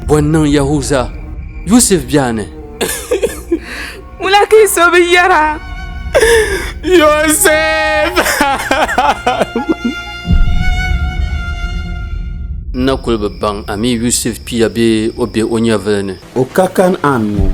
Bɔ n-niŋ Yahuza, Yusuf biɛha ni? Ŋuna ka yi so bi yɛra? Yusuf! N na kul bi baŋ a mi Yusuf pia bee o be o nyɛvili ni. O ka Kan'an ŋɔ,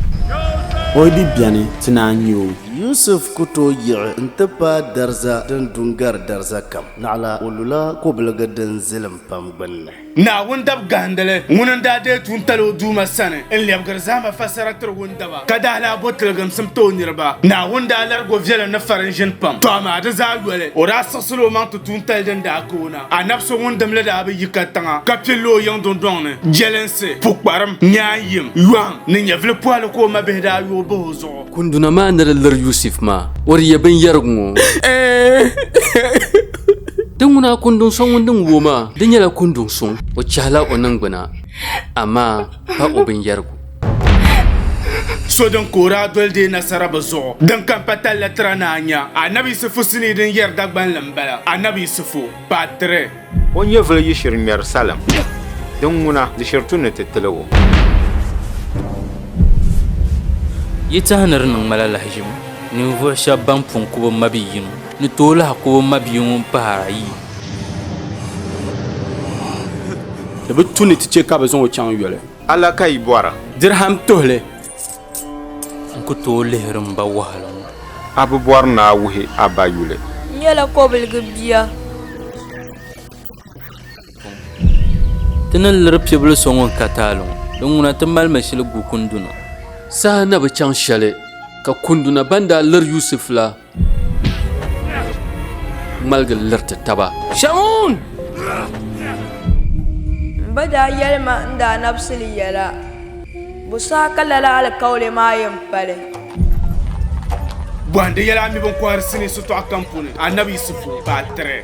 o yi di beni ti naa nya o. Yusuf ku tooi yiɣi nti paai dariza din du n-gari dariza kam. Naɣila o lula kobiligi din zilim pam gbinni. Naawuni dabigahindili ŋuni n-daa deei tuuntali o Duuma sani n-lɛbigiri zahima fassara tiri wundaba, ka daa lahi bo tiliginsim ti o niriba. Naawuni daa larigi o viɛlim ni farin ʒini pam, tɔ amaa di zaa yoli o daa siɣisila o maŋ ti tuuntali din daa ka o na. Anabi so ŋun dimli daa bi yi ka tiŋa ka pilila o yiŋ dundɔŋ ni. Jelinsi, pukparim, nyaayim, yɔhim ni nyɛvili pɔhili ka o mabihi daa yooi bahi o zuɣu. Kunduna maa ni di liri Yusuf maa, o di yɛ binyɛrigu ŋɔ. Di ŋuna a kunduŋ so ŋun din wuo maa, di nyɛla kunduŋ suŋ. O chɛhila o niŋgbuna, amaa pa o binyɛrigu. So din ka o daa doli deei nasara bɛ zuɣu. Din ka m-pa talli tira ni a nya Annabi Yisifu sinii din yɛri Dagbanli m-bala. Annabi Yisifu, Part 3. O nyɛvili yiɣisiri ŋmɛri salim, din ŋuna di shiri tu ni ti tili o. Yi tahi ni di niŋ ma la lahiʒibu, ninvuɣ shɛb bɛn pun ku bɛ mabia yino ni tooi lahi ku bɛ mabia ŋun pahir ayi. Di bi tu ni ti chɛ ka bɛ zaŋ o chaŋ yoli. A la ka yi bɔri? Dirham tuhili. N ku tooi lihiri m ba wahala ŋɔ. A bi bɔri ni a wuhi a ba yuli? N nyɛla kɔbiliga bia. Ti ni liri pibili so ŋun ka taali ŋɔ, di ŋuna ti mali mi shili gu kunduna. Saha na bi chaŋ shɛli, ka kunduna ban daa liri Yusuf la ŋmaligi liriti taba. Shamun! M ba daa yɛli ma n daa nabisili yɛla, Bo saha ka lala alikauli maa yɛn pali? Bɔhindi yɛla a mi bɛn kɔhiri sinii sitɔɣu kam puuni, Annabi Yisifu, baa 3.